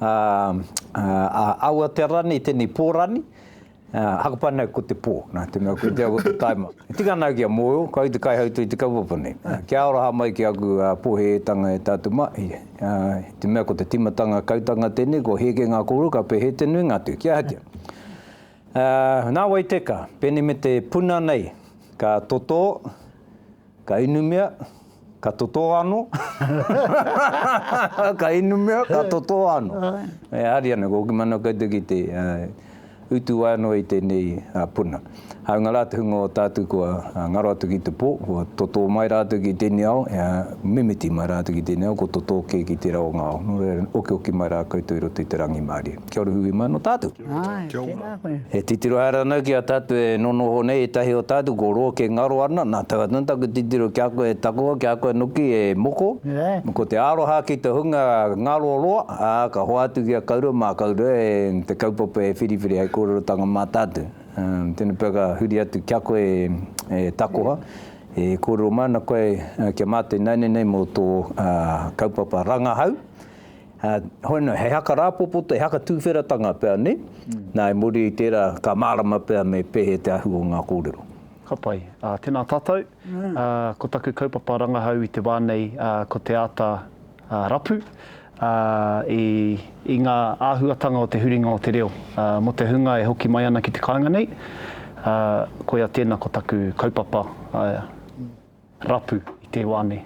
a, a, a aua te rani, i tēnei pō rani, a, hakapa nei ko te pō, nā te mea ko te ako te taima. E tika ana au ki a Moyo, ko au te kaihautū i te kaupapa nei. Kia aroha mai ki aku pōhēetanga e tātou mahi, a, i te mea ko te tīmatanga kautanga tēnei, kua heke ngā kōrero, ka pēhē te nuinga atu, kia hatia. A, nā wai teka, pēnei me te puna nei, ka totō, Ka inumia, ka totō anō. Ka inumia, ka totō anō. E hari ana, ko Okimana koutou ki te utu ai anō i tēnei puna. Hāunga rā te hunga o tātou kua ngaro atu ki te pō, kua totō mai rātou ki tēnei ao, mimiti mai rātou ki tēnei ao, kua totō kē ki tērā o ngā ao. Nō reira, okioki mai rā koutou i roto i te rangimārie. Kia ora hui mai anō tātou. Kia ora. E titiro haere ana ki a tatu e nonoho nei etahi o tatu ko ro ke ngaro ana na taka tonu taku titiro ki a koe e takoha ki a koe noki e moko ko te aroha ki te hunga ngaro roa a ka hoatu ki a kaurua ma kaurua e te kaupapa e whiriwhiri hei korerotanga ma tatu tena pea ka huri atu ki a koe e takoha e korero mai ana koe kia mate naine nei mo to kaupapa rangahau Hoi no, he haka rāpopoto, he haka tūwheratanga pea, nē? Nā, i muri i tērā, ka mārama pea me pēhea te ahu o ngā kōrero. Ka pai. Tēnā tātou. Ko taku kaupapa rangahau i te wā nei, ko te āta rapu i ngā āhuatanga o te huringa o te reo mō te hunga e hoki mai ana ki te kāinga nei. Koia tēnā ko taku kaupapa rapu i te wā nei.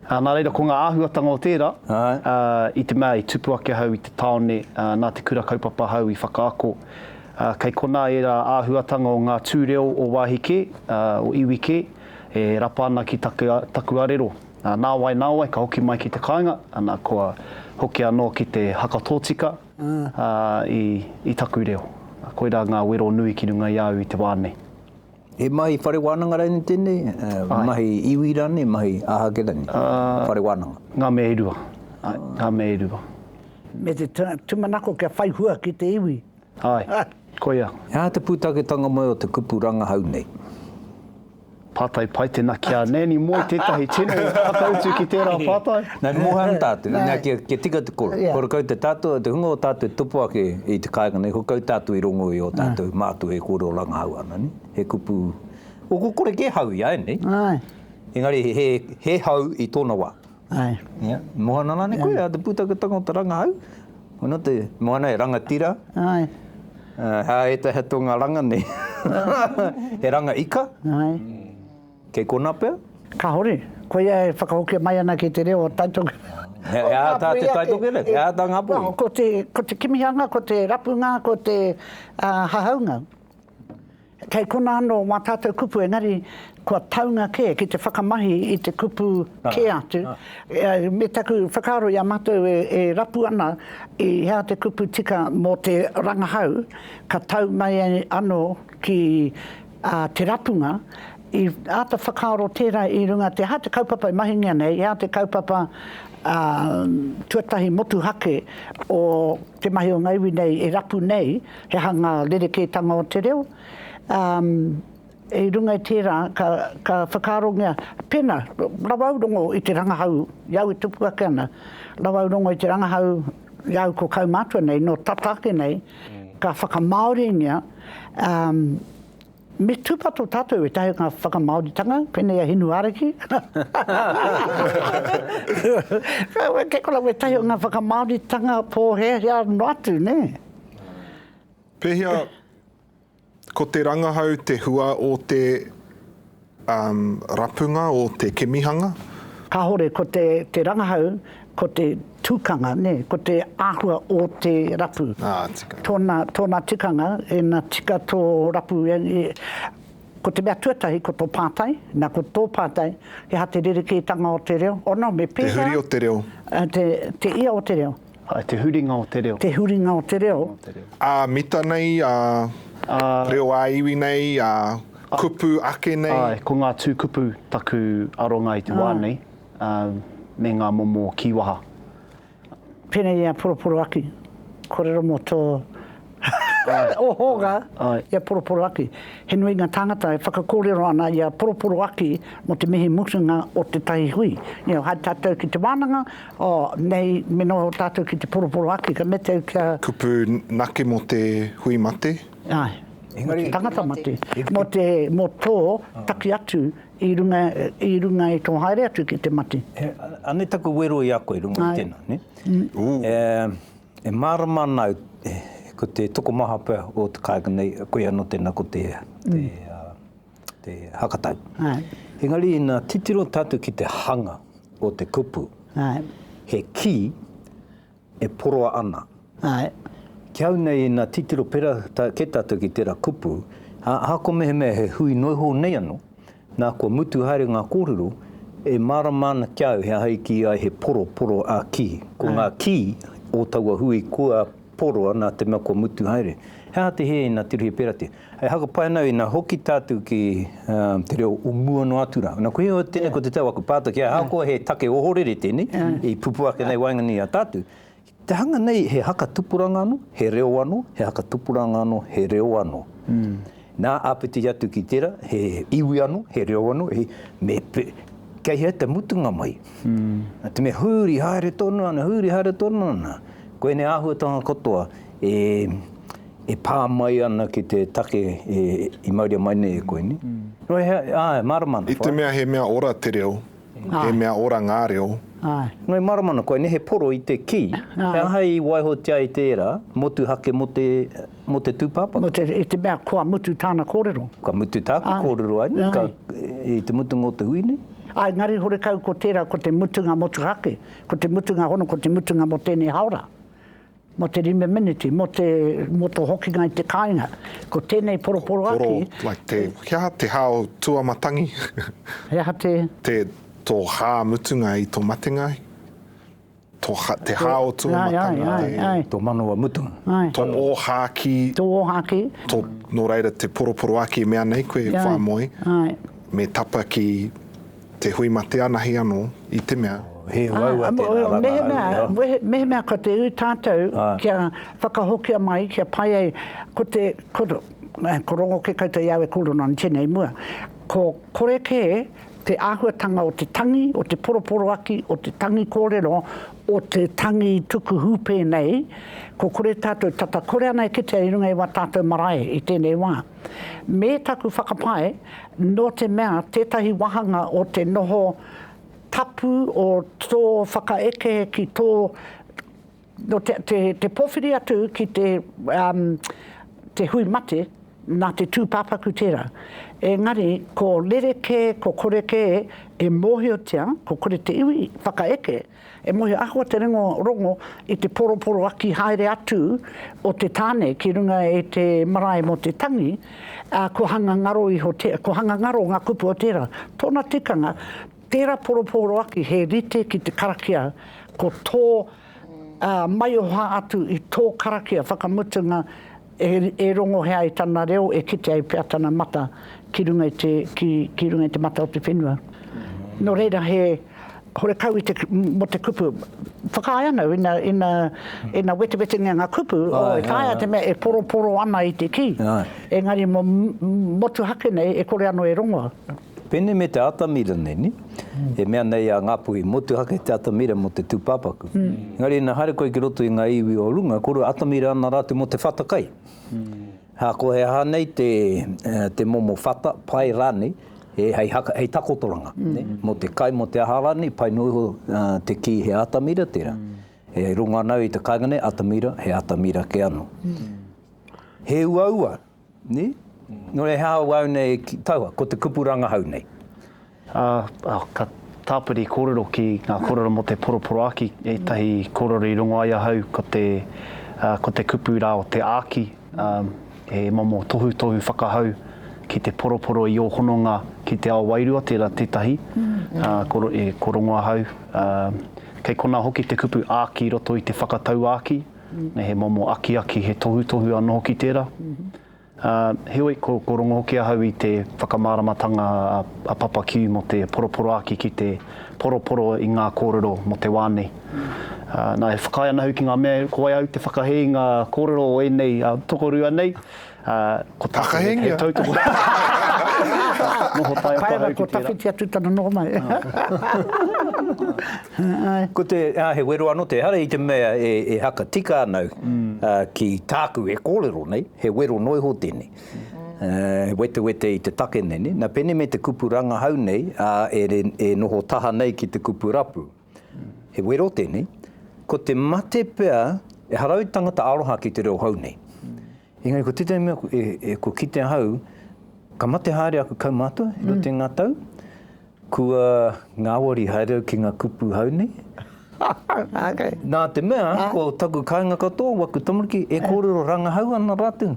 Nā reira, ko ngā āhuatanga o tērā, i te mea i tupu ake ahau i te tāone, nā te Kura Kaupapa ahau i whakaako, kei konā ērā āhuatanga o ngā tū reo o wāhi kē, o iwi kē, e rapa ana ki taku arero. Nāwai, nāwai, ka hoki mai ki te kāinga, ana, kua hoki anō ki te haka tōtika i taku reo. Koirā ngā wero nui ki runga i a au i te wā nei. He mahi whare wānanga rānei tēnei? Ae. Mahi iwi rānei, mahi āhake rānei? Aa. Whare wānanga. Ngā mea e rua. Ae. Ngā mea e rua. Me te tūmanako kia whai hua ki te iwi. Ae. Koia. He aha te pūtaketanga mai o te kupu rangahau nei? Pātai pai tēnā ki a Nanny Moe tētahi tino whakautu ki tērā pātai. Nei moha ana tātou, nei kia, kia tika te koro. Koro kau te tātou, te hunga o tātou e tupu ake i te kāinga nei, ko kau tātou i rongo i o tātou mātua e kōrero rangahau ana, ne? He kupu, o ko kore kē hau i a ēnei. Engari he, he hau i tōna wā. Ia, moha ana rānei koe, a te pūtaketanga o te rangahau, koinā te, moha ana he rangatira, hā ētahi atu o ngā ranga nei, he ranga ika. Kei konā pea? Kāore. Koia e whakahokia mai ana ki te reo o Taitokerau. He aha tā te Taitokerau? He aha tā Ngāpuhi? Ko te, ko te kimihanga, ko te rapunga, ko te hahaunga. Kei konā anō wā tātou kupu engari kua taunga kē ki te whakamahi i te kupu kē atu. Me taku whakaaro i a mātou e rapu ana i hea te kupu tika mō te rangahau ka tau mai anō ki a te rapunga, i āta whakaaro tērā i runga te aha te kaupapa e mahingia nei, he aha te kaupapa tuatahi motuhake o te mahi o ngā iwi nei e rapu nei, he aha ngā rerekētanga o te reo, i runga i tērā ka whakaarongia pēnā, rawaurongo i te rangahau, i au e tupu ake ana, rawaurongo i te rangahau, Rau ko kaumātua nei, nō tata ake nei, ka whakamāoringia, ā, me tūpato tātou ētahi o ngā whakamāoritanga, pēnei a Hinu Ariki. Kei konā wētahi o ngā whakamāoritanga pōhēhea noa atu, nē? Pēhea Ko te rangahau te hua o te um rapunga o te kemihanga. Kahore ko te te rangahau ko te tukanga ne ko te ahua o te rapu. Ah tika. Tona tona tikanga ena tika to rapu e Ko te mea tuatahi ko to patai na ko to patai he aha te rereketanga o te reo ono me pehea Te huri o te reo. Te te ia o te reo. Ai te huringa o te reo. Te huringa o te reo. Ā mita nei, ā reo ā-iwi nei, ā kupu ake nei. Āe, ko ngā tū kupu taku aronga i te wā nei, me ngā momo kīwaha. Pēnei i a Poroporoaki, Korero mō tō o Hōga, i a Poroporoaki. He nui ngā tāngata e whakakōrero ana i a Poroporoaki mō te mihi mutunga o tētahi hui. Hai tātou ki te wānanga, oh, nei me noho tātou ki te Poroporoaki, ka mete au kia. Kupu nake mō te hui mate. Āe, mō te tangata mate, mō te, mō tō taki atu i runga, i runga i tō haere atu ki te mate. Anei taku wero i a koe i runga i tēnā, nē? Ooh. E mārama ana au ko te tokomaha pea o te kāinga nei, koia anō tēnā ko te, te hakatau. Engari ina titiro tātou ki te hanga o te kupu, he kī e poroa ana. Ki au nei ina titiro pērā kē tātou ki tērā kupu, ahakoa mehemea he hui noihou nei anō, Nā, kua mutu haere ngā kōrero, e mārama ana ki a au he aha i kī ai he poro, poro a kī. Ko ngā kī o taua hui kua poroa nā te mea kua mutu haere. He aha te hē ina tirohia pērā te. E haka pai ana au ina hoki tātou ki te reo o mua noa atu rā. Nā, koia tēnei ko te tau aku pātai, kia ahakoa he take ohorere tēnei i pupu ake nei waenganui i a tātou, Te hanga nei he haka tupuranga anō, he reo anō, he haka tupuranga anō, he reo anō. Nā, āpiti atu ki tērā, he iwi anō, he reo anō, he, me, kei hea te mutunga mai? Te mea huri haere tonu ana, huri haere tonu ana, ko ēnei āhuatanga katoa e, e pā mai ana ki te take e, i mauria mai nei e koe, nē? Nō hea, āe, mārama ana whāia. I te mea he mea ora te reo, He mea ora ngā reo. Ngāi Maramana, koinei he poro i te kī, he aha i waihotia ai tērā motuhake mō te, mō te tūpāpaku? I te mea kua mutu tāna kōrero. Ka mutu tāku kōrero ai nei, ka, i te mutunga o te hui nei. Āe, engari horekau ko tērā ko te mutunga motuhake, ko te mutunga hono, ko te mutunga mō tēnei hāora. Mō te rime meneti, mō te, mō tō hokinga i te kāinga. Ko tēnei poroporoaki. Poro, like te, he aha te hā o Tuamatangi? He aha te? Te, tō hā mutunga i tō matenga, tō, te hā o Tuamatangi. Ai, ai, ai, ai. Tō manawa mutunga. Ai. Tō ōhākī. Tō ōhākī. Tō, nō reira te poroporoaki e mea nei koe, whāmoi. Ai. Me tapa ki. Te hui ma te anahi ano i te mea. He uaua tena ranga. Mehemea ka te ui tatou kia whakahokia mai kia pai ai ko te ko rongo ke koutou iau e koro na tenei mua ko kore ke te ahuatanga o te tangi o te poroporoaki o te tangi korero o te tangi tuku hupe nei ko kore tatou tata kore ana e kitea i runga i wa tatou marae i tenei wa. me taku whakapae, nō te mea tētahi wāhanga o te noho tapu o tō whakaeke ki tō, te pōwhiri atu ki te hui mate, nā te tūpāpaku tērā. Engari, ko rerekē, ko korekē e mōhiotia, ko kore te iwi whakaeke, E moe, ahakoa te rongo, rongo i te poroporoaki haere atu o te tāne ki runga e te marae mō te tangi, ā, kua hanga ngaro iho te, kua hanga ngaro ngā kupu o tērā. Tōna tikanga, tērā poroporoaki he rite ki te karakia, ko tō, ā, maioha atu i tō karakia whakamutunga E, e rongohea ai tana reo, e kite ai pea tana mata ki runga i te, ki, ki runga i te mata o te whenua. Nō reira he horekau i te, mō te kupu. Whakaae ana au, ina, ina, ina wetewetengia ngā kupu, oh, e taea te mea e poroporo ana i te kī. Engari mō, motuhake nei e kore anō e rongoa. Pene me te atamira nei, ne? E mea nei a Ngapuhi, motuhake te atamira mo te tupapaku. Engari ina haere koe ki roto i nga iwi o runga, korua atamira ana ratu mo te whata kai. Ha, ko he aha nei te, te momo whata, pai ranei, he hei haka, hei takotoranga, ne? Mo te kai, mo te aha ranei, pai no iho te ki he atamira tera. E rongo ana au i te kainga nei, atamira, he atamira ke ano. He uaua Nē? Nō reira, he aha wāu nei ki taua, ko te kupu rangahau nei? Ā, ka tāpiri kōrero ki ngā kōrero mō te poroporoāki, ētahi kōrero i rongo ai ahau ko te, ko te kupu rā o te āki, he momo tohutohu whakahau ki te poroporo i ō hononga ki te ao wairua, tērā tētahi, ko rongo ahau. Kei konā hoki te kupu āki i roto i te whakatauāki. me he momo akiaki, he tohutohu anō hoki tērā. Ā, heoi, ko, ko rongo hoki ahau i te whakamāramatanga a, a Papa Q mō te poroporoāki ki te poroporo i ngā kōrero mō te wā nei. Ā, nā, e whakaae ana au ki ngā mea ko wai au te whakahē i ngā kōrero o ēnei a, tokorua nei, Ko Takahengia. He tautoko. Noho tae atu ahau ki tērā. Ko Tawhiti atu tana noho mai. Ko te, he wero anō te hara i te mea e haka tika ana au ki tāku e kōrero nei, he wero noa iho tēnei. He wetewete i te take nei, nā pēnei me te kupu rangahau nei e noho taha nei ki te kupu rapu. He wero tēnei, ko te mate pea, e harau tangata aroha ki te reo hou nei. Engari ko tētahi mea, e, e, ko kite ahau, ka mate haere aku kaumātua, e roto i ngā tau, kua ngāwari haere au ki ngā kupu hou nei. okay. Nā te mea, ah. ko taku kāinga katoa, waku tamariki, e kōrero rangahau ana rātou.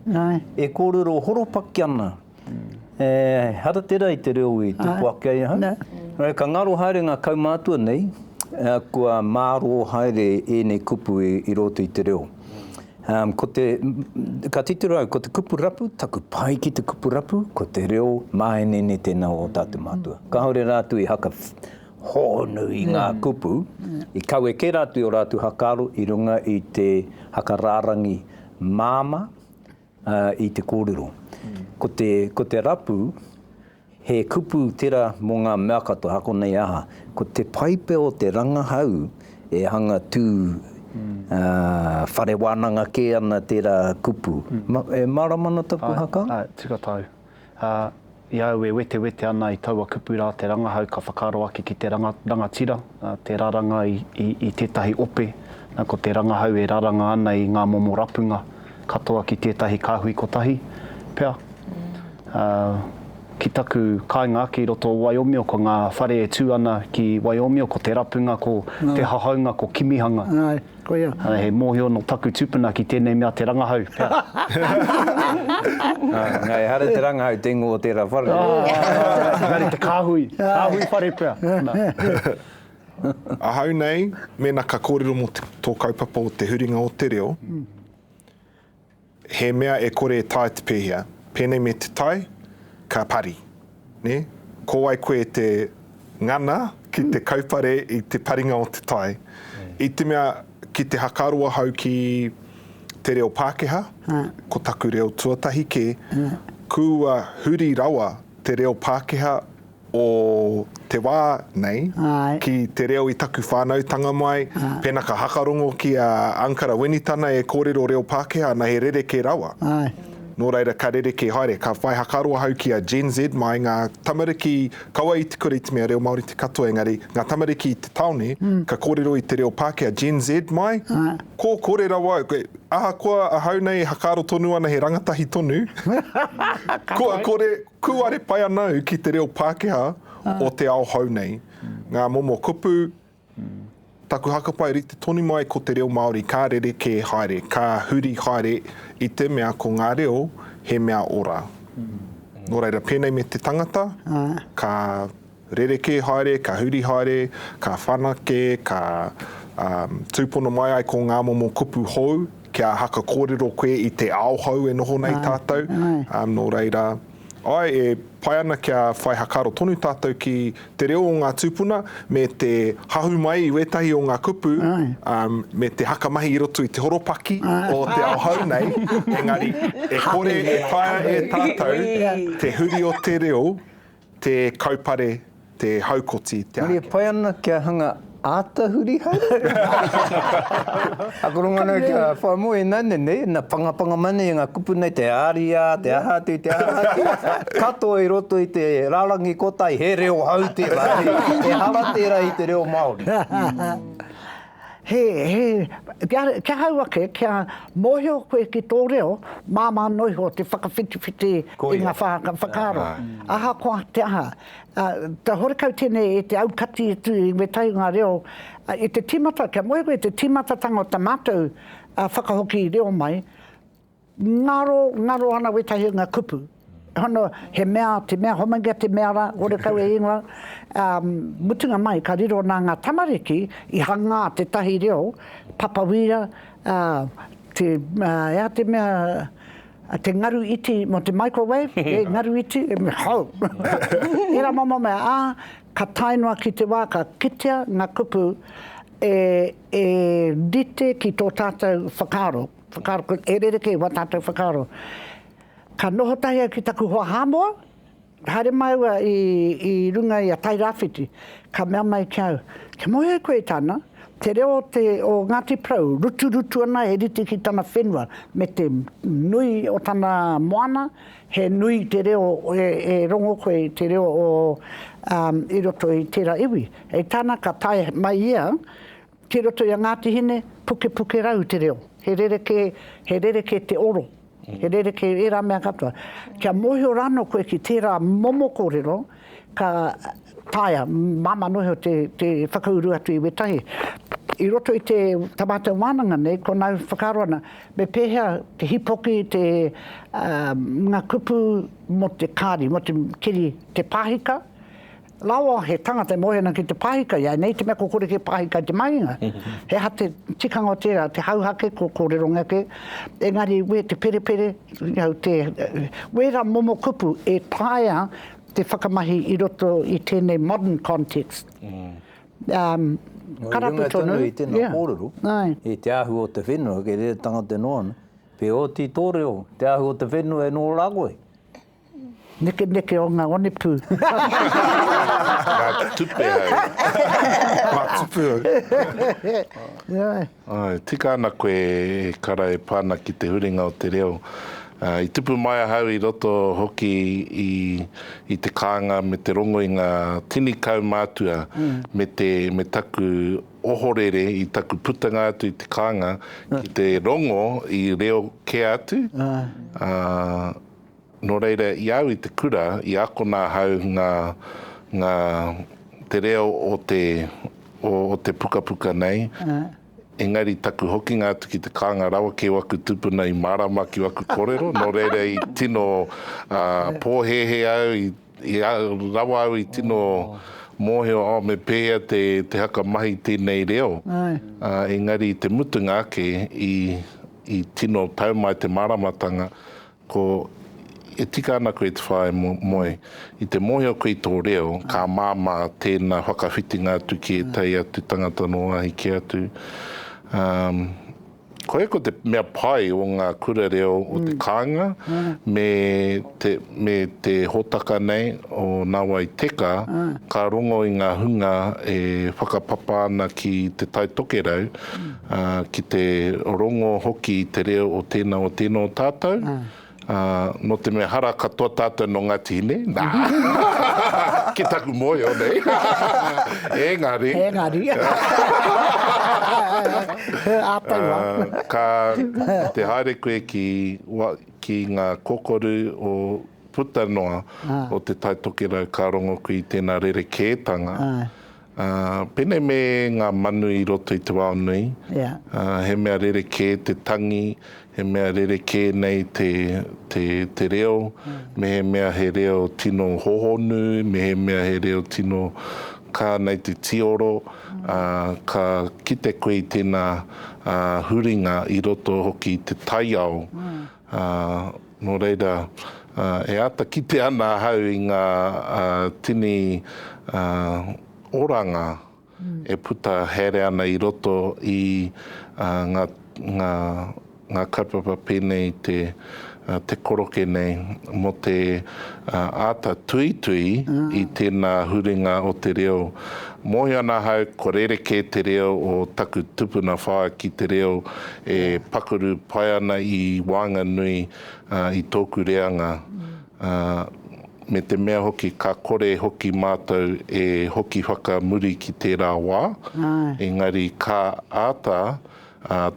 E kōrero horopaki ana. E hara tera i te reo i tupu ake ai ahau. Nō ka ngaro haere ngā kaumātua nei kua mārō haere ēnei kupu i roto i te reo. Ko te, ka titiro au, ko te kupu rapu, taku pai ki te kupu rapu, ko te reo māenene tēnā o ō tātou mātua. Kāore rātou i haka hōnu i ngā kupu, i kawe kē rātou i ō rātou hakaaro i runga i te haka rārangi māmā, i te kōrero. Ko te, ko te rapu, he kupu tera mo nga mea katoa, ako nei aha, ko te paipe o te rangahau e hanga tu, a, whare wananga ke ana tera kupu. E marama ana taku haka? Ae, ae, tika tau. Ā, i a au e wetewete ana i taua kupu rā te rangahau ka whakaaro ake ki te rangatira, te raranga i tētahi ope, nā ko te rangahau e raranga ana i ngā momo rapunga katoa ki tētahi kāhui kotahi pea. Ā, ki taku kāinga ake i roto o Waiomio ko ngā whare e tū ana ki Waiomio ko Te Rapunga ko Te Hahaunga ko Kimihanga. Koia. He mōhio nō taku tupuna ki tēnei mea te rangahau. Nā, ehara te rangahau, te ingoa o tērā whare. Engari te kāhui, kāhui whare pea. Ahau nei, mēnā ka kōrero mō tō kaupapa o te huringa o te reo, He mea e kore e tae te pēhea, pēnei me te tai, ka pari, nē? Ko wai koe te ngana ki te kaupare i te paringa o te tai? I te mea, ki te hakaaro ahau ki te reo Pākehā, ko taku reo tuatahi kē, kua huri rawa te reo Pākehā, o te wā nei ki te reo i taku whānautanga mai, pēnā ka hakarongo ki a Ankara Winitana e kōrero reo Pākehā ana he rerekē rawa. Nō reira ka rerekē haere, ka whai hakaaro ahau ki a Gen Z mai ngā tamariki kaua i tukuru i te mea reo Māori te katoa engari ngā tamariki i te taone ka kōrero i te reo Pākehā, Gen Z mai kō kore rawa koe, ahakoa ahau nei e hakaaro tonu ana he rangatahi tonu kua kore. Kūare pai ana au ki te reo Pākehā o te ao hou nei. Ngā momo kupu, taku hakapai rite tonu mai ko te reo Māori ka rerekē haere, ka huri haere i te mea ko ngā reo he mea ora. Nō reira, pēnei me te tangata, ka. Rerekē haere, ka huri haere, ka whanake, ka tūpono mai ai ko ngā momo kupu hou, kia haka kōrero koe i te ao hou e noho nei tātou. Nō reira, āe, e pai ana kia whai hakaaro tonu tātou ki te reo o ngā tūpuna me te hahu mai i wētahi o ngā kupu, me te haka mahi i roto i te horopaki o te ao hou nei, engari e kore e taea e tātou te huri o te reo, Te kaupare, te haukoti, te ākene. Marie pai ana kia hanga āta huri haere. Akoranga nei kia whai moe ināiane nei, na pangapanga mai nei nga kupu nei te ariā, te aha atu, te aha atu, katoa i roto i te rarangi kotahi he reo hau tērā, ehara tērā i te reo Māori. He, he, kia, kia hau ake, kia mōhio koe ki tō reo, māmā noa iho te whakawhitiwhiti i ngā whāka whakaaro. Ahakoa te aha, te horekau tēnei e te aukati atu i wētahi o ngā reo, i te tīmata, kia mōhio koe i te tīmatatanga o tā mātou whakahoki reo mai, Ngaro, ngaro ana wētahi o nga kupu. Hono, he mea, te mea hominga, te mea ra, ore kau e ingoa. Mutunga mai, ka riro na nga tamariki i hangā tetahi reo, papawīra, te, ea te mea, te ngaru iti mo te microwave, e, ngaru iti, hou! Era momo mea, a, ka tae noa ki te wa ka kitea nga kupu e, e rite ki to tatou whakaaro. Whakaaro, ko, e rerekē wā tātou whakaaro. Ka noho tahi au ki taku hoa Hāmoa, haere māua i, i runga i a Tairāwhiti, ka mea mai ki au, kia moe ai koe i tāna, te reo o, te, o Ngāti Porou, ruturutu ana he rite ki tana whenua, me te nui o tana moana, he nui te reo, e, e rongo koe i te reo o, um, i roto i tērā iwi. Hei tāna, ka tae mai ia, Ki roto i a Ngāti Hine, pukepukerau te reo. He rerekē, he rerekē te oro, he rerekē ērā mea katoa. Kia mōhio rānō koe ki tērā momo kōrero, ka taea, māmā noa iho te, te whakauru atu i wētahi. I roto i te, tā mātou wānanga nei, konā e whakaaro ana, me pēhea te hīpoki, te, ā, ngā kupu mō te kāri, mō te keri, te pāhika, Rawa, he tangata e moe ana ki te pāhika, ianei te mea kua kore kē pāhika i te mahinga. He aha te tikanga o tērā, te hauhake, kua kōrerongia kē. Engari wē te perepere, wērā momo kupu e taea te whakamahi i roto i tēnei modern context. Ka rapu tonu. Nō runga tonu i tēnā kōrero, i te ahu o te whenua, kei reira tangata e noa ana, wheoti tō reo, te ahu o te whenua e noa rā koe. Nekeneke o nga onepu. Nga tupe au. Nga tupe au. Tika ana koe e kara e pa ana ki te huringa o te reo. I tupu mai ahau i roto hoki i te kaanga me te rongo i nga tini kaumātua me taku ohorere i taku putanga atu i te kaanga ki te rongo i reo ke atu. Nō reira, i au i te kura, i akona ahau ngā, ngā, te reo o te, o, o te pukapuka nei, engari taku hokinga atu ki te kānga rawa kē o aku tūpuna i mārāma ki aku kōrero, nō reira i tino, ā, pōhēhē au, i, i rawa au i tino mōhio, oh, me pēhea te, te haka mahi tēnei reo, ā, engari i te mutunga ake, i, i tino tau mai te māramatanga, Ko, E tika ana koe te whāi moe. I te mōhio koe i tō reo, ka māmā tēnā whakawhitinga atu ki ētahi atu tangata nō wāhi kē atu. Um, Koia ko te mea pai o ngā kura reo o te kāinga me te, me te hōtaka nei o Nāwai Teka, ka rongo i ngā hunga e whakapapa ana ki Te Tai Tokerau, ā, ki te rongo hoki i te reo o tēnā, o tēnā o tātou, ā, nō te mea hara katoa tātou nō Ngāti Hine, nā, ki taku mōhio nei, engari, Engari. He āta wā. ā, ka, ki te haere koe ki, wa, ki ngā kokoru o, puta noa o Te Tai Tokerau, ka rongo koe i tēnā rerekētanga, Āe. Ā, pēnei me ngā manu i roto i te wao nui, ā, he mea rerekē te tangi, he mea rerekē nei te, te, te reo, mehemea he reo tino hohonu, mehemea he reo tino kā nei te tīoro, ā, ka kite koe i tēnā, ā, huringa i roto hoki i te taiao, Ā, nō reira, e āta kite ana ahau i ngā tini oranga e puta haere ana i roto i ngā kaupapa pēnei i te koroke nei mō te āta tuitui i tēnā huringa o te reo. Mōhio ana ahau kua rerekē te reo o taku tupuna whaea ki te reo e pakuru pai ana i waenganui i tōku reanga, me te mea hoki ka kore hoki mātou e hoki whakamuri ki tērā wā, engari ka āta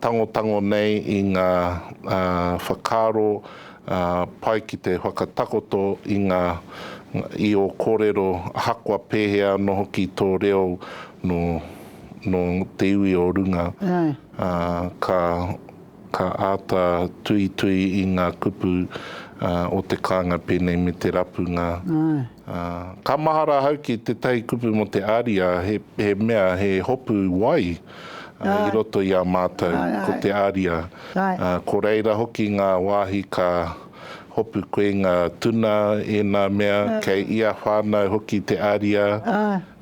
tangotango nei i ngā whakaaro pai ki te whakatakoto i ngā, i ō kōrero ahakoa pēhea anō hoki tō reo nō te iwi o runga. ā, ka, ka āta tuitui i ngā kupu, ā, o te kānga pēnei me te rapunga, ā, ka mahara ahau ki tētahi kupu mō te ariā, he, he mea, he hopu wai, ā, i roto i a mātou, ko te ariā, ā, ko reira hoki ngā wāhi ka hopu koe ngā tuna, ēnā mea, kei ia whānau hoki te ariā,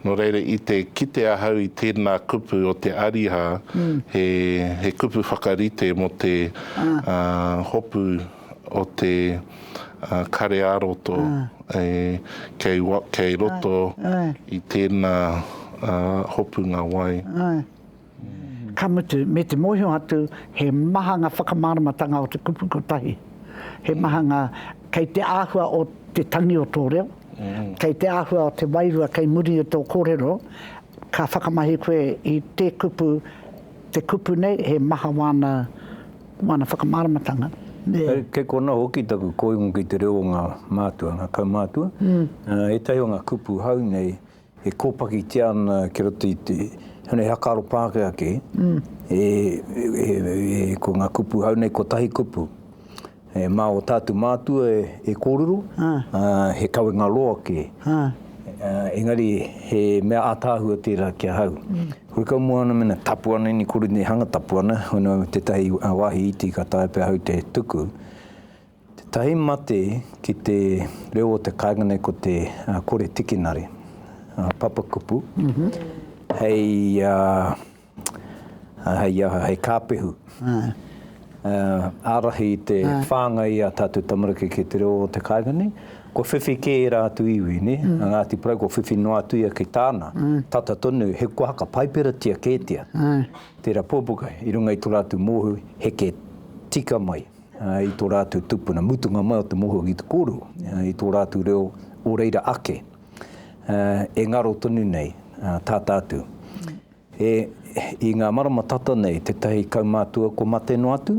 Nō reira, i te kite ahau i tēnā kupu o te ariā, he, he kupu whakarite mō te hopu o te kare ā-roto kei, kei roto i tēnā hopunga wai. Ka mutu, me te mōhio atu, he maha ngā whakamāramatanga o te kupu kotahi. He maha ngā, kei te āhua o te tangi o tō reo, kei te āhua o te wairua kei muri i tō kōrero, ka whakamahi koe i te kupu, te kupu nei, he maha wāna, wāna whakamāramatanga. Kei konā hoki taku koingo ki te reo o ngā mātua, ngā kaumātua. Ētahi o ngā kupu hou nei, E kōpakitia ana ki roto i te huna he whakaaro Pākehā kē, ko ngā kupu hou nei, kotahi kupu, mā ō tātou mātua e kōrero, he kawenga roa kē, engari he mea ātaahua tērā ki ahau. Huikau mua ana mēnā tapu ana, ina kore nei hanga tapu ana, hono tētahi wāhi iti ka taea pea ahau te tuku. Tētahi mate ki te reo o te kāinga nei ko te kore tikinare, papakupu, hei aha, hei kāpehu. Ārahi i te whāngai i ā tātou tamariki ki te reo o te kāinga nei, kua whiwhi kē ērā atu iwi, nē? A Ngāti Porou kua whiwhi noa atu ia ki tāna, tata tonu, he kōhaka paiperatia kētia tērā puapuka i runga i tō rātou mōhio heke tika mai. i tō rātou tupuna, mutunga mai o te mōhio ki te kōrero, i tō rātou reo o reira ake, e ngaro tonu nei tā tātou. I ngā marama tata nei, tētahi kaumātua kua mate noa atu,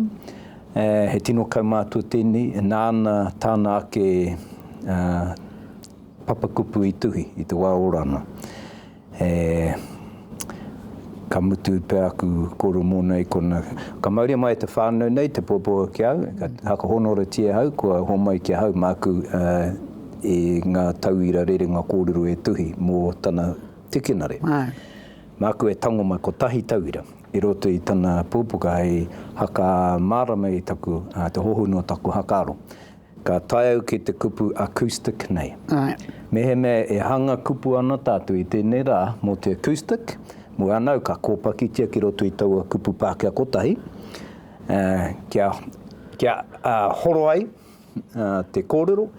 he tino kaumātua tēnei, nāna tāna ake papakupu i tuhi i te wā ora ana. He ka mutu pea aku koro mōna i kona. Ka mauria mai e te whānau nei te puapua ki au, ka whakahōnorotia au kua homai ki ahau māku i ngā tauira rerenga kōrero e tuhi mō tana tikinare. Māku e tango mai kotahi tauira i roto i tana pupuka hei haka mārama i taku, te hohonu o taku haka aro. Ka tae au ki te kupu acoustic nei. Mehemea e hanga kupu ana tātou i tēnei rā mō te acoustic, mō ana au ka kōpakitia ki roto i taua kupu Pākehā kotahi, kia, kia horo ai te kōrero,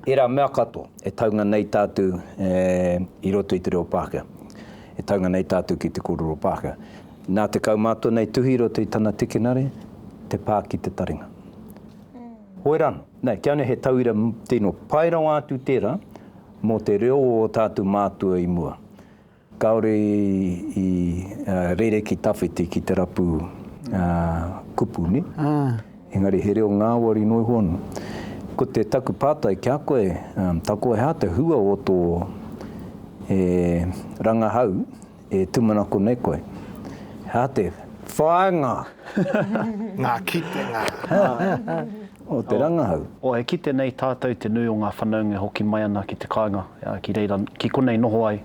ērā mea katoa e taunga nei tātou i roto i te reo Pākehā, e taunga nei tātou ki te kōrero Pākehā. Nā te kaumātua nei tuhi i roto i tana tikinare, te pā ki te taringa. Hoe ra ano. Nei, kia ora he tauira tino pai rawa atu tera mo te reo o o tatu mātua i mua. Kaore i rere ki tawhiti ki te rapu kupu, ni? Engari he reo ngawari no iho ano. Ko te taku patai ki a koe, Takoha te hua o to rangahau? E tūmanako nei koe. Hā te whāinga. Ngā kitenga. O te rangahau. O e kite nei tātou te nui o ngā whanaunga e hoki mai ana ki te kāinga, ki reira, ki konei noho ai.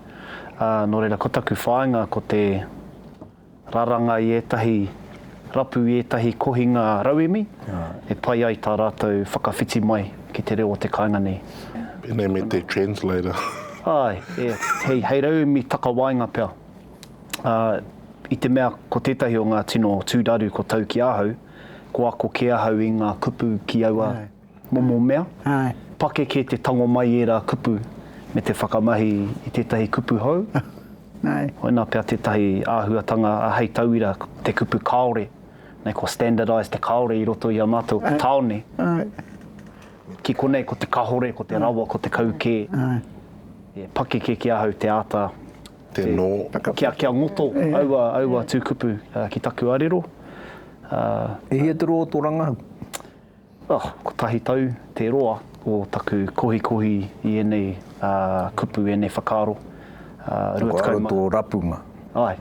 Nō reira, ko taku whāinga ko te raranga i ētahi. rapu i ētahi kohinga rauemi e pai ai tā rātou whakawhiti mai ki te reo o te kāinga nei. Pēnei me te translator. Āe, e, hei, hei rauemi takawaenga pea. Ā, i te mea ko tētahi o ngā tino tūraru ko tau ki ahau, ko ako kē ahau i ngā kupu ki aua. Momo mea, pakeke te tango mai i ērā kupu me te whakamahi i tētahi kupu hou, koinā pea tētahi āhuatanga hei tauira te kupu kāore, nei kua standardise te kāore i roto i a mātou te tāone. Ki konei ko te kahore, ko te rawa, ko te kau kē, pakeke ki ahau te āta kia ngoto aua tūkupu ki taku arero. E hia te rō o tō rangahau? Oh, kotahi tau te roa o taku kohikohi i ēnei kupu, ēnei whakaaro. Rua tekau ma. Whakaaro tō rapunga. Ai.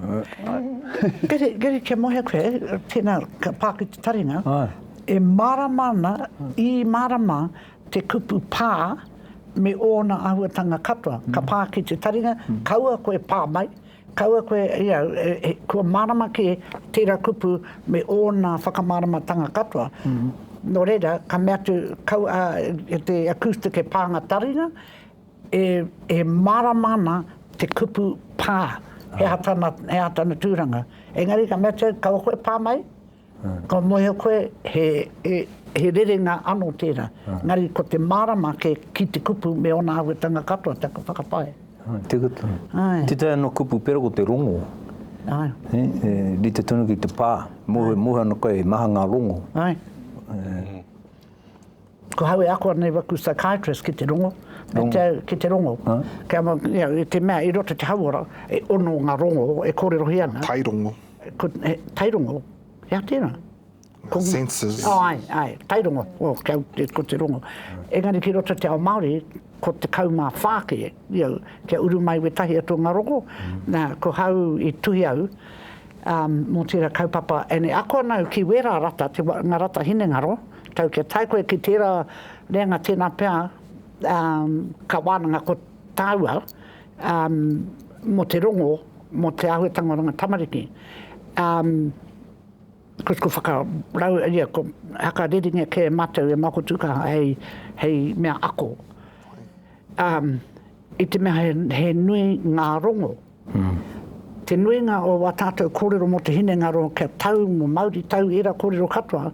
Gary, Gary, kia moe koe, tēnā, ka pā ki te taringa. Ai. E mārama ana, i mārama te kupu pā me ōna āhuatanga katoa. Ka pā ki te taringa, kaua koe pā mai, Kaua koe i au, kua mārama kē tērā kupu me ōna whakamāramatanga katoa. Nō reira, ka mea atu, kau a, e te acoustic e pānga taringa, e, e mārama ana te kupu pā, he aha tana, he aha tana tūranga. Engari ka mea atu au, kaua koe pā mai, Ka mohio koe, he rerenga ano tera, engari ko te marama ke ki te kupu me ona awetanga katoa taku whakapae. Ai, teka tonu. Ai. Tetahi ano kupu pera ko te rongo. Ai. He, e rite tonu ki te pa, mohe, mohe ano koe, he maha nga rongo. Ai. Ko hau e ako ana i waku psychiatrist ki te rongo, me te au ki te rongo. Kia mau, you know, i te mea i roto te hauora, e ono nga rongo e korerohia ana. Tairongo. Ko, he, tairongo? He aha tena? Ko, Senses. Oh, ai, ai, tairongo, oh, kia, ko te rongo. Engari ki roto te ao Maori, ko te kau ma wha ke, you know, kia uru mai wetahi atu nga rongo. Na, ko hau i tuhi au, Mō tērā kaupapa ēnei ako ana au ki wērā rata, ngā rata hinengaro, tau kia tae koe ki tērā reanga tēnā pea ka wānanga ko tāua mō te rongo, mō te āhuetanga o runga tamariki. Ko taku whakarau, whakareringa kē e mātou e Māoko Tūkaha hei mea ako. I te mea he nui ngā rongo Te nuinga o wā tātou kōrero mō te hinengaro kia tau mō Māori tau ērā kōrero katoa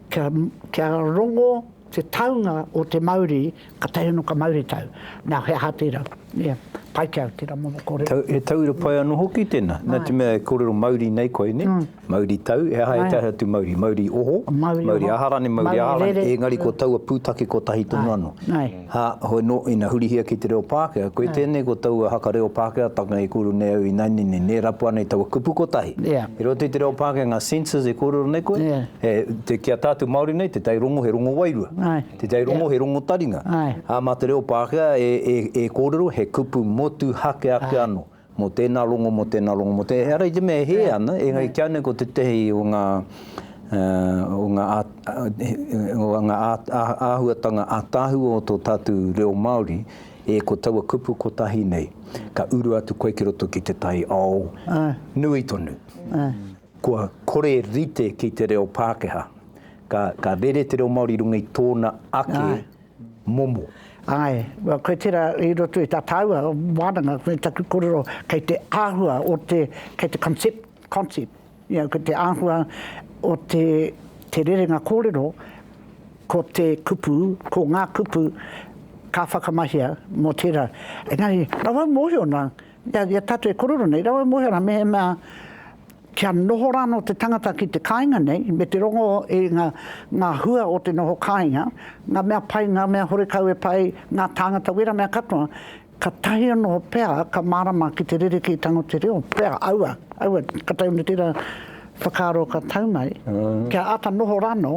kia kia rongo te taunga o te Māori ka tae anō ka Māori tau. Nā, he aha tērā? Ia, pai ki au tērā momo kōrero. He tauira pai anō hoki tēnā, nā te mea e kōrero Māori nei koe, nē? Mauri tau, he aha he taha atu mauri? Mauri oho, mauri aha rānei, mauri aha rānei, engari ko taua pūtake kotahi tonu anō. Hā, hoi nō, ina hurihia ki te reo Pākehā, koe tēnei ko taua haka reo Pākehātanga e kōrero nei au ināianei nei, nē rapu ana i taua kupu kotahi. I roto i te reo Pākehā ngā senses e kōrero nei koe, he, te, ki a tātou Māori nei, te tai rongo he rongo wairua, te tai rongo he rongo taringa, ā, mā te reo Pākehā e, e, e kōrero he kupu motuhake ake anō. Mō tēnā rongo, mō tēnā rongo, mō tēnā, ehara i te mea e hē ana, engari kia nei ko tētehi o ngā, o ngā, o ngā āhuatanga ātaahua o tō tātou reo Māori, e ko taua kupu kotahi nei, ka uru atu koe ki roto ki te taiao nui tonu. Kua kore rite ki te reo Pākehā, ka rere te reo Māori i runga i tōna ake. momo. Ae, koe tera i roto i ta taua wananga, koe taku korero kei te ahua o te, kei te concept, concept, ya, ko te ahua o te, te rerenga korero, ko te kupu, ko nga kupu ka whakamahia mo tera. Engari, rawa mohio na, Ia, ia tātou e korero nei, rawa e mōhio ana mehemea kia noho rānō te tangata ki te kāinga nei, me te rongo i ngā, ngā hua o te noho kāinga, ngā mea pai, ngā mea horekau e pai, ngā tāngata wera mea katoa, katahi anō pea ka mārama ki te rerekētanga o te reo, pea, aua, aua, ka taunu tērā whakaaro ka tau mai, kia āta noho rānō.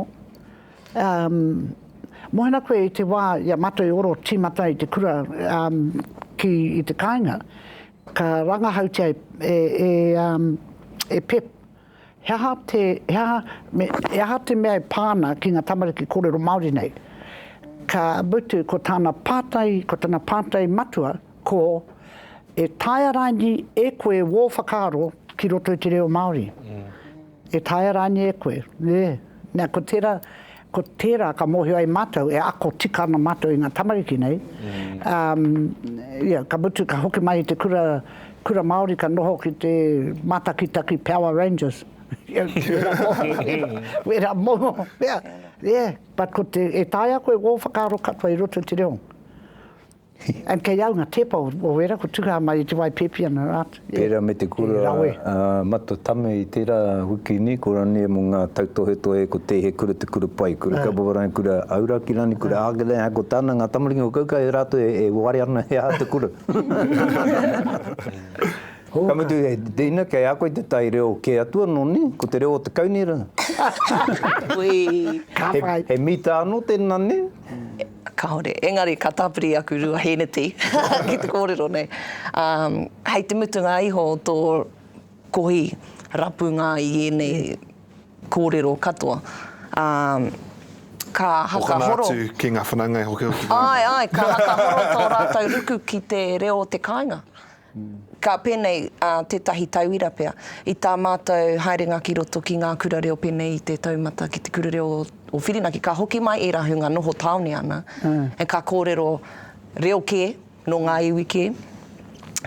Mohina koe i te wā i a mātou e oro tīmata i te kura ki i te kāinga, ka rangahautia e Pep he aha te, he aha, me he aha te mea e pā ana ki ngā tamariki kōrero Māori nei. Ka mutu ko tāna pātai, ko tana pātai matua ko, E taea rāini e koe wō whakaaro ki roto i te reo Māori? E taea rānei e koe? Nē. Nā, ko tērā, ko tērā ka mōhio ai mātou, e ako tika ana mātou i ngā tamariki nei. Um, ia, ka mutu, ka hoki mai i te kura, kura Māori, ka noho ki te mātakitaki Power Rangers. Ia, wērā moho, wērā moho, ia, yeah. But ko te, e taea koe wō whakaaro katoa i roto i te reo. And kei au nga tepa o era ko tuha mai i te wai pepi ana rat. Pera me te kura a Mata Tame i tera wiki ni ko rania mo nga tautohetohe ko te he kura te kura pai kura Kapovarangi kura Auraki rani kura Aakele a ko tana nga tamaringa ko Kauka e ratou e ware ana he aha te kura ka mutu he Dina kei a koe te tai reo ke atu ano ne ko te reo o te kaunera he mita ano tena ne. Kāore. Engari ka tāpiri aku rua hēneti ki te kōrero nei. Hei te mutunga iho o tō kohi rapunga i ēnei kōrero katoa, ka hakahoro. Hokona atu ki ngā whanaunga e hokihoki nei. Āe, āe, ka hakahoro tō rātou ruku ki te reo o te kāinga. Ka pēnei ā tētahi tauira pea, i tā mātou haerenga ki roto ki ngā kura reo pēnei i te taumata ki te kura reo o Whirinaki, ka hoki mai ērā hunga noho tāone ana, ā, ka kōrero reo kē, nō ngā iwi kē.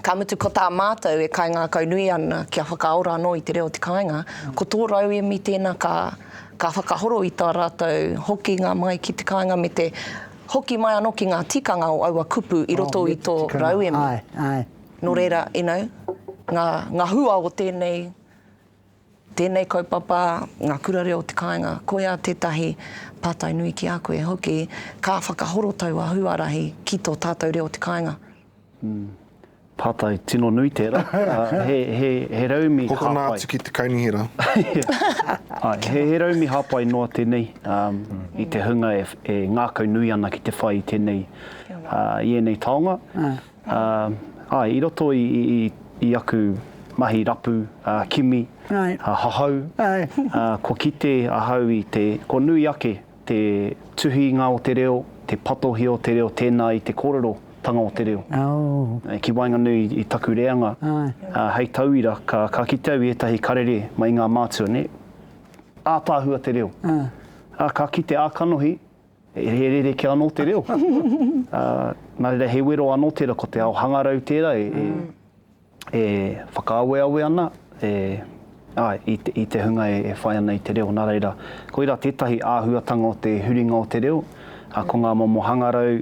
Ka mutu ko tā mātou e kaingākaunui ana kia whakaora anō i te reo o te kāinga, ko tō rauemi tēnā ka whakahoro i tā rātou hokinga mai ki te kāinga me te Hoki mai anō ki ngā tikanga o aua kupu i roto i tō rauemi. Nō reira, you know, ngā hua o tēnei, tēnei kaupapa, ngā kura reo o te kāinga, koia tētahi pātai nui ki a koe hoki, ka whakahorotau a Huarahi ki tō tātou reo o te kāinga. Pātai tino nui tērā. He raumi hāpai. Hoki ana atu ki te kaunihera. He raumi hāpai noa tēnei i te hunga e ngākau nui ana ki te whai i tēnei, i ēnei taonga. Āe, i roto i aku mahi rapu, kimi, hahau, kua kite ahau i te, kua nui ake Te tuhinga o te reo, te patohi o te reo tēnā i te kōrero tanga o te reo. Ki waenganui i taku reanga, hei tauira, ka kite au i ētahi karere mai ngā mātua, nē, ātaahua te reo. Ā, ka kite, ā, kanohi, he rerekē anō te reo. Nā reira, he wero anō tērā, ko te ao hangarau tērā e. E whakaaweawe ana e, āe, i te, i te hunga e, e whai ana i te reo, nā reira, koirā tētahi āhuatanga o te huringa o te reo, ā, ko ngā momo hangarau,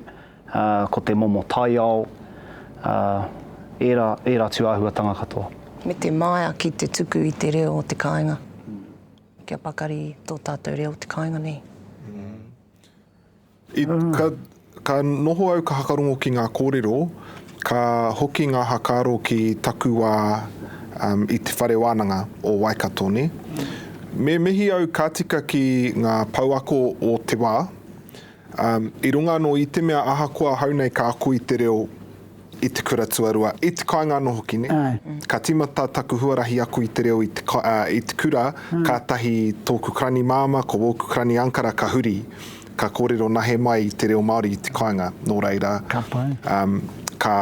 ā, ko te momo taiao, ā, ērā, ērā atu āhuatanga katoa. Me te māia ki te tuku i te reo o te kāinga, kia pakari tō tātou reo o te kāinga nei. I, ka, ka noho au ka hakarongo ki ngā kōrero, ka hoki ngā hakaaro ki taku wā um, i te whare wānanga o Waikato, ne? Me mihi au ka tika ki ngā pouako o te wā, um, i runga anō i te mea ahakoa hau nei ka ako i te reo I te kura tuarua, i te kāinga anō hoki, nē? Ka tīmata taku huarahi aku i te reo i te, i te kura, kātahi tōku karani māmā, ko wōku karani ankara ka huri, ka kōrero nahe mai i te reo Māori i te kāinga. Nō reira, ka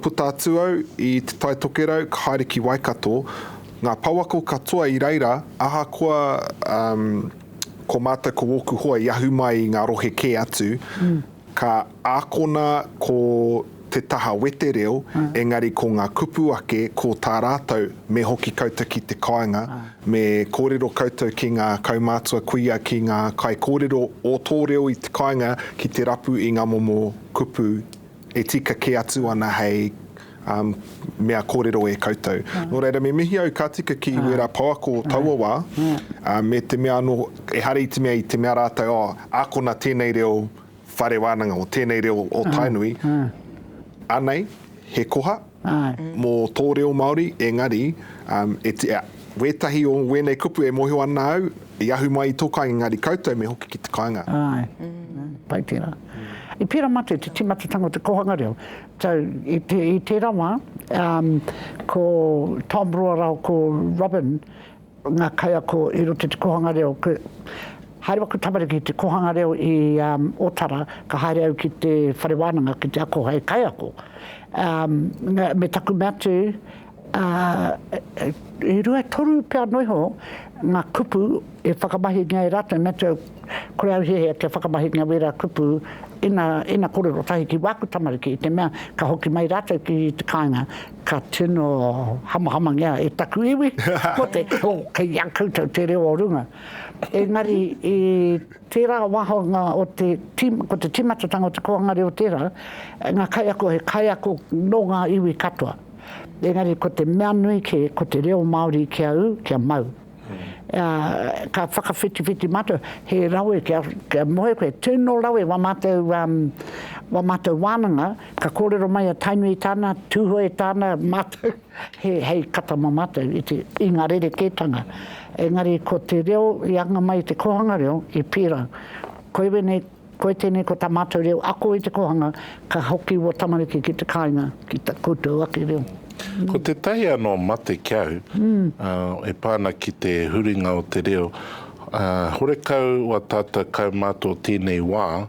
puta atu au i Te Tai Tokerau, ka haere ki Waikato, ngā pouako katoa i reira, ahakoa ko mātou, ko wōku hoa i ahu mai i ngā rohe kē atu, ka. Ākona ko te taha wetereo, engari ko ngā kupu ake, ko tā rātou, me hoki koutou ki te kāinga, me kōrero koutou ki ngā kaumātua kuia, ki ngā kaikōrero o tō reo i te kāinga ki te rapu i ngā momo kupu e tika kē atu ana hei mea kōrero e koutou. Nō reira, me mihi au ka tika ki wērā pouako taua wā, me te mea anō, ehara i te mea, i te mea rātou, oh, ākona tēnei reo, whare wānanga o tēnei reo o Tainui, anei, he koha mō tō reo Māori, engari, wētahi o wēnei kupu e mōhio ana au, i ahu mai i tō kāinga, engari koutou me hoki ki te kāinga. Āe, pai tērā. I pērā mā te tīmatatanga o te kōhanga reo. I tērā wā, ko Tom Ruarau, ko Robyn, ngā kaiako i roto i te kōhanga reo. Haere waku tamariki i te kōhanga reo i Otara, ka haere au ki te whare wānanga ki te ako hei kaiako. Me taku mea tū, e rua e toru pea noa iho ngā kupu e whakamahingia e rātou, me tū au, Kore au hiahia kia whakamahi ngā wera kupu ina, ina korero tahi ki wāku tamariki i te mea ka hoki mai rātou ki te kāinga ka tino hamahamangia e taku iwi, ko te, oh, kei a koutou te reo o runga. Engari i tērā wāhanga o te, ko te tīmatatanga o te kōhanga reo tērā, ngā kaiako he kaiako nō ngā iwi katoa. Engari ko te mea nui kē ko te reo Māori kia ū, kia mau. ā, ka whakawhitiwhiti mātou, he rawe kia, kia moe koe, tino rawe wā mātou, wā mātou wānanga, ka kōrero mai a Tainui tāna, Tūhoe tāna, mātou, he, hei kata mō mātou i te, i ngā rerekētanga. Engari ko te reo i anga mai i te kōhanga reo, i pērā. Koiwē nei Koe tenei ko ta matou reo ako i te kohanga ka hoki ua tamariki ki te kainga ki ta koutou ake reo. Ko tetahi ano mate ki au e pa ana ki te huringa o te reo horekau wa tatou kaumato tenei wa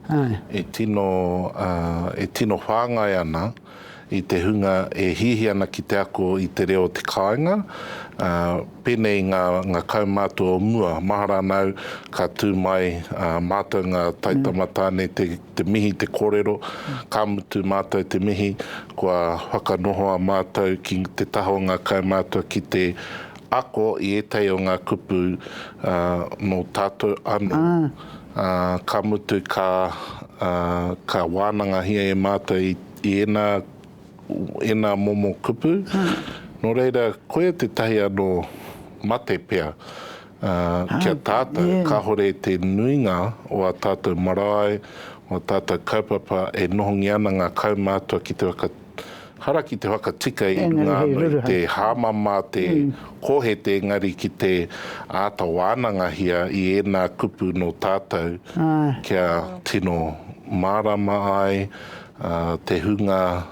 e tino e tino whangai ana i te hunga e hihi ana ki te ako i te reo o te kāinga, ā, pēnei ngā, ngā kaumātua o mua. Mahara ana au ka tū mai ā mātou ngā taitama tāne te, te mihi, te kōrero, ka mutu mātou te mihi, kua whakanohoa mātou ki te taha o ngā kaumātua ki te ako i ētahi o ngā kupu ā, nō tātou anō. Ā, ka mutu, ka, ā, ka wānangahia e Mātou i, i ēnā, ēnā momo kupu, nō reira, koia tētahi anō mate pea, ā, ki a tātou, kāore te nuinga o ā tātou marae, o ā tātou kaupapa e nohongia ana ngā kaumātua ki te waka, Hara ki te whakatika i runga ano i te hamama te kohete engari ki te ata wanangahia i ena kupu no tatou kia tino marama ai te hunga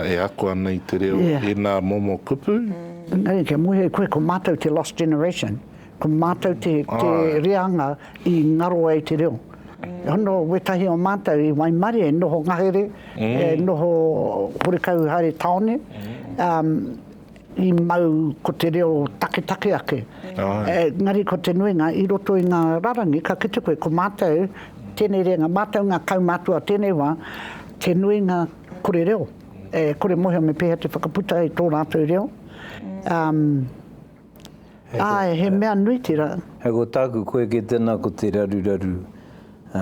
e ako ana i te reo ena momo kupu. Engari kia muhe koe ko matou te lost generation. Ko mātou te reanga i ngaro ai te reo. Hono wētahi o mātou i waimarie e noho ngahere, e noho horekau haere taone, i mau ko te reo taketake ake. Engari ko te nuinga i roto i ngā rarangi ka kite koe ko mātou tēnei reanga, mātou ngā kaumātua o tēnei wā, te nuinga kore reo, kore mōhio me pēhea te whakaputa i tō rātou reo. Āe, he mea nui tira. Hei ko tāku, koe kē tēnā ko te raruraru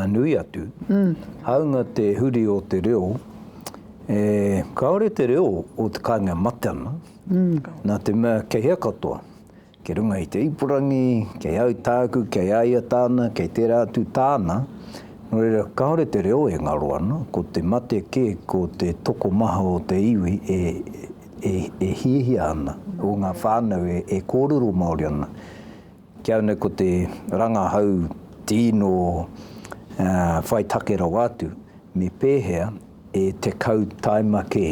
nui atu. Hāunga te huri o te reo, kāore te reo o te kāinga e mate ana, nā te mea kei hea katoa, kei runga i te ipurangi, kei au tāku, kei a ia tāna, kei tērā atu tāna, nō reira kāore te reo e ngaro ana, ko te mate kē ko te tokomaha o te iwi e e hiahia ana, o ngā whānau e kōrero Māori ana. Ki au nei ko te rangahau tīno whai take rawa atu, me pēhea e tekau taima kē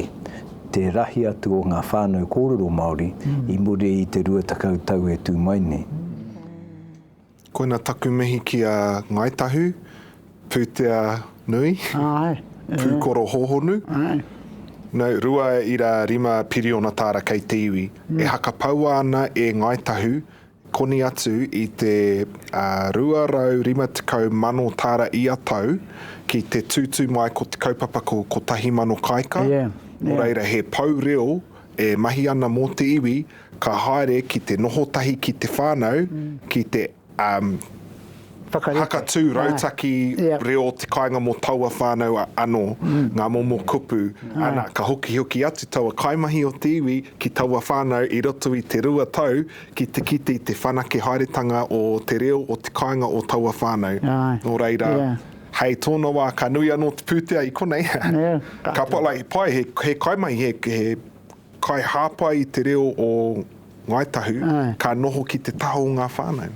te rahi atu o ngā whānau kōrero Māori i muri i te rua tekau tau e tū mai nei. Koina taku mihi ki a Ngai Tahu, Pūtea Nui, Pūkoro Hōhonu, no, rua ira rima piriona tāra kei te iwi, e hakapaua ana e Ngai Tahu koni atu i te 250,000 tāra ia tau ki te tūtū mai ko te kaupapa ko Kotahi Mano Kāika, nō reira he pou reo e mahi ana mō te iwi, Ka haere ki te noho tahi ki te whānau, ki te hakatū rautaki reo o te kāinga mō taua whānau anō, ngā momo kupu, ana, ka hokihoki atu taua kaimahi o te iwi ki taua whānau i roto i te rua tau ki te kite i te whanake haeretanga o te reo o te kāinga o taua whānau. Nō reira, hei tōna wā, ka nui anō te pūtea i konei, ka pai he kaimahi, he. Kaihāpai i te reo o Ngāi Tahu, ka noho ki te taha o ngā whānau.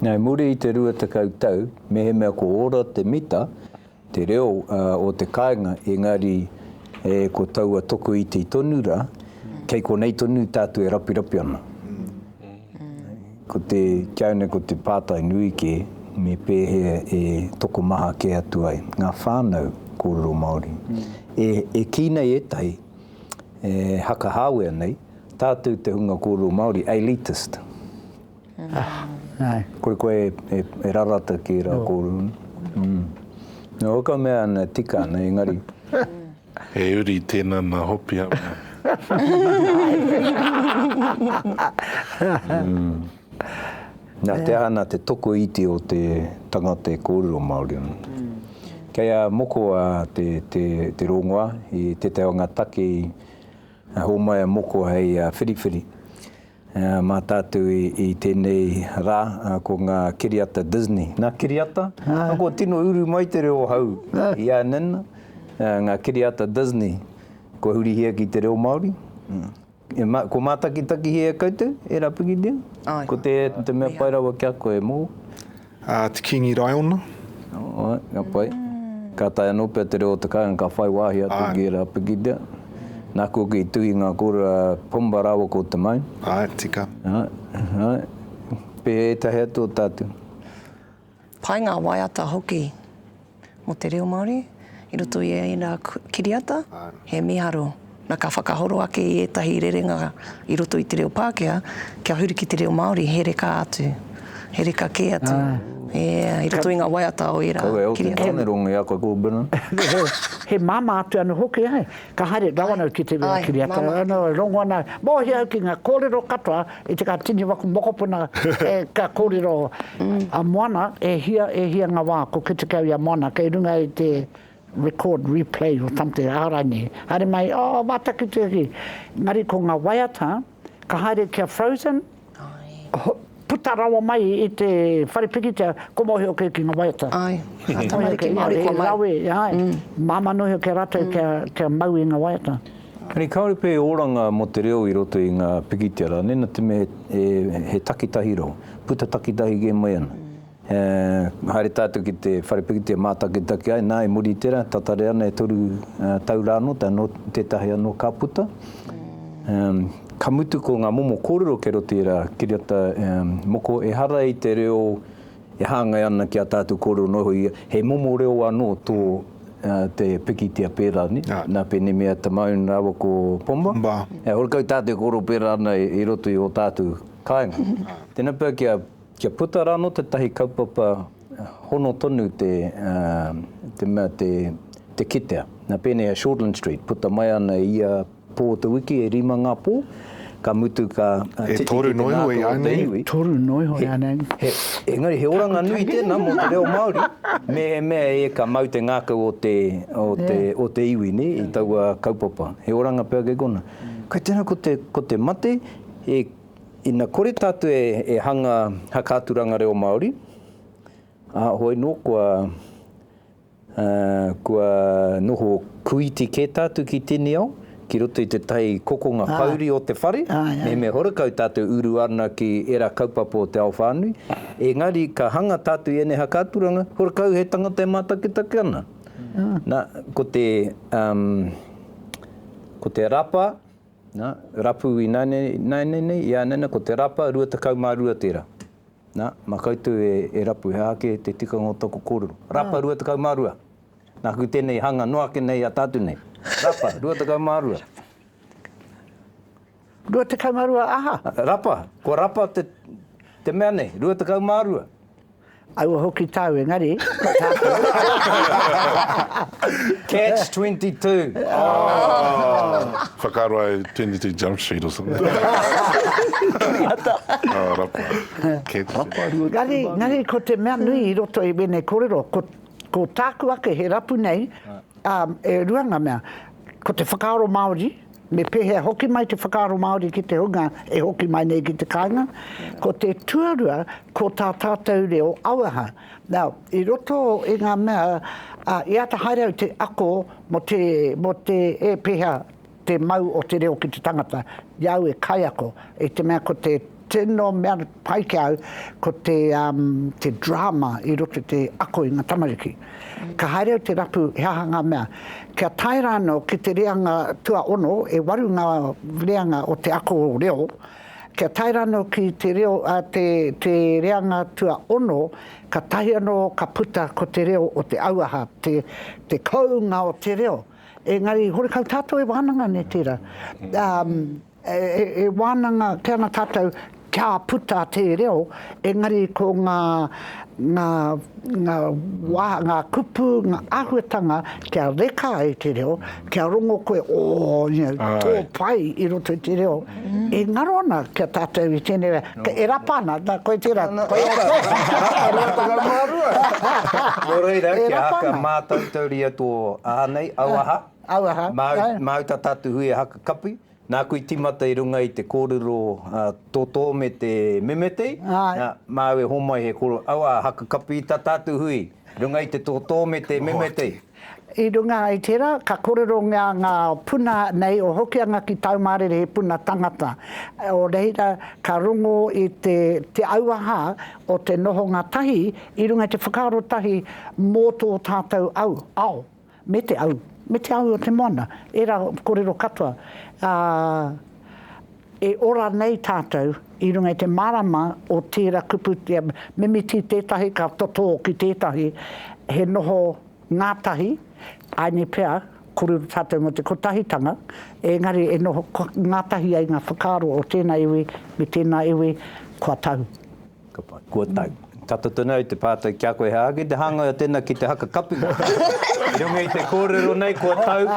I muri i te rua tekau tau, mehemea ko ora te mita, te reo o te kāinga, engari ko taua tokoiti tonu rā, kei konei tonu tātou e rapirapi ana. Ko te kiaune, ko te pātai nui kē, me pēhea e tokomaha kē atu ai ngā whānau kōrero Māori e kī nei ētahi, e hakahāwea nei, tātou te hunga kōrero Māori, elitist. Kore koe e rarata ki ērā kōrero nei. Nō ka mea ana, tika ana, engari. He uri tēnā nā Hopihamu. Nā te aha, nā te tokoiti o te tangata e kōrero Māori ana. Kei a Moko a te, te, te rongoā i tētahi o ngā take i hōmai a Moko hei whiriwhiri mā tātou i, i tēnei rā, ko ngā kiriata Disney. Nā kiriata? Nā kua tino uru mai te reo hau i a Nina, ngā kiriata Disney kua hurihia ki te reo Māori. E ma, kua mātakitakihia e koutou, e Rapikitia? Ai. Ko te, te mea pai rawa ki a koe, mōu? Ā, te Kīngi Raiona. Āe, ka pai. Ka tae anō pea te reo o te kāinga ka whai wāhi atu ki a Rapikitia. Nāku hoki i tuhi ngā kōrero a Pomba rāua ko Te Maim. Āe, tika. Āe, āe. Pēhea ētahi atu o tātou? Pai ngā waiata hoki mō te reo Māori i roto i ēnā kiriata, he mīharo. Na, ka whakahoro ake i ētahi rerenga i roto i te reo Pākehā, kia huri ki te reo Māori, he reka atu, he reka kē atu, e, i roto i ngā waiata o ērā kiriata. Kaua e hoki ki a koe ko Brennan. He māmā atu anō hoki, āe. Ka haere rawa anō ki te reo kiriata, rongo ana, mōhio au ki ngā kōrero katoa I te ka tini waku mokopuna e ka korero a Moana e hia e hia nga wa ko kete kau i a Moana kei runga i te record replay or something arai nei haere mai oh wa taki te uri engari ko nga waiata ka haere ki a Frozen puta rawa mai i te whare pikitia ko mohio kei ki nga waiata ai he rawe ai mamanohio ki a ratou kia mau i nga waiata. Engari kāore pea e oranga mō te reo i roto i ngā pikitia rā, mēnā te mea he, he takitahi rau, puta takitahi kē mai ana. E, haere tātou ki te whare pikitia mātakitaki ai, nā, e muri i tērā, tatari ana e toru tau rā anō, tae noa tētahi anō ka puta. E, ka mutu ko ngā momo kōrero kei roto i rā, kiriata, e, moko, ehara i te reo E hāngai ana ki a tātou kōrero noho ia, he momo reo anō tō te pikitia pērā nei, nā Penemia Tamone rāua ko Pomba, he horekau tātou e kōrero pērā ana i roto i ō tātou kāinga. Tēnā pea kia puta rā anō tētahi kaupapa hono tonu te mea te kitea, nā pēnei a Shortland Street, puta mai ana i ia Pō te wiki e rima ngā pō, ka mutu ka titiki te ngākau o te iwi. E toru noa iho ianei. He, he, engari he oranga nui tēnā mō te reo Māori, mehemea e ka mau te ngākau o te, o te, o te iwi, nē, i taua kaupapa. He oranga pea kei konā. Kei tēnā ko te, ko te mate, e, ina kore tātou e, e hanga hakaturanga reo Māori, ā, hoi nō kua, Kua noho kuiti kē tātou ki tēnei ao, ki roto i te tahi kokonga pouri o te whare, mehemea horekau tātou uru ana ki ērā kaupapa o te ao whānui, engari ka hanga tātou i ēnei haka aturanga, horekau he tangata e mātakitaki ana. Nā, ko te, ko te rapa, nā, rapu ināianei nei, ināianei nei, ināianei nei, ko te rapa, 22 tērā. Na, ma koutou e, e rapu, he aha ake te tikanga o toku korero? Rapa, 22. Naku tenei hanga noa ake nei a tatu nei. Rapa, 22. 22 aha? Rapa, kua rapa te, te mea nei, 22. Aua hoki tau, engari, ko tatou. Catch 22. Oh. Whakaaro ai Twenty Two Jump Street or something. Kiriata. Oh, rapa. Catch it. Rapa rua Ngari, tū ngari māngai. ko te mea nui i roto i wēnei kōrero, ko, ko tāku ake he rapu nei, ā, e rua ngā mea, ko te whakaaro Māori, me pēhea hoki mai te whakaaro Māori ki te hunga e hoki mai nei ki te kāinga, ko te tuarua, ko tā tātou reo auaha. Now, i roto i ngā mea, ā, i āta haere au te ako mō te, mō te, e, pēhea te mau o te reo ki te tangata, i a au e kaiako, i te mea ko te tino mea pai ki a au, ko te, um, te drama i roto i te ako i ngā tamariki. Ka haere au te rapu he aha ngā mea. Kia tae rānō ki te reanga tuaono, e waru ngā reanga o te ako reo, Kia tae rano ki te reo, te, te reanga tuaono, ka tahi anō ka puta ko te reo o te auaha, te, te kounga o te reo. Engari, horekau tātou e wānanga nei tērā. Um, e, e, e wānanga, kei ana tātou, kia puta te reo, engari ko ngā, ngā, ngā, wā, ngā kupu, ngā āhuatanga kia reka ai te reo, Kia rongo koe, oh, you know, tō pai i roto i te reo, e ngaro ana ki a tātou i tēnei wā, e rapa ana, nā, koe tērā, koe atu. Rapa 2022. Nō reira, kia haka mātautauria tō aha nei, auaha, māu, māu tata atu hui e haka kapi, Nāku i tīmata i runga i te kōrero a Tōtō me te memetei, nā, māu e hōmai he kōrero, aua haka kapi i tā tātou hui, i runga i te tōtō me te memetei. I runga i tērā, ka kōrero ngā, ngā puna nei o Hokianga ki Taumārere he puna tangata. O reira, ka rongo i te, te auaha o te nohonga tahi i runga i te whakaaro tahi mō tō tātou au, ao. me te au, me te awi o te moana, ērā korero katoa, ā, e ora nei tātou i runga i te mārama o tērā kupu, mimiti tētahi ka totō ki tētahi, he noho ngātahi, āinei pea, kōrero tātou mō te kotahitanga, engari e noho ngātahi ai ngā whakaaro o tēnā iwi me tēnā iwi, kua tahu. Ka pai. Kua tau. Ka toto nei te pātai ki a koe, hā, ki te hāngai o tēnā ki te haka kapu? I runga i te kōrero nei, kua tau,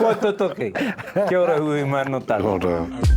kua toto kei. Kia ora Hui mā nō tāku. Kia ora.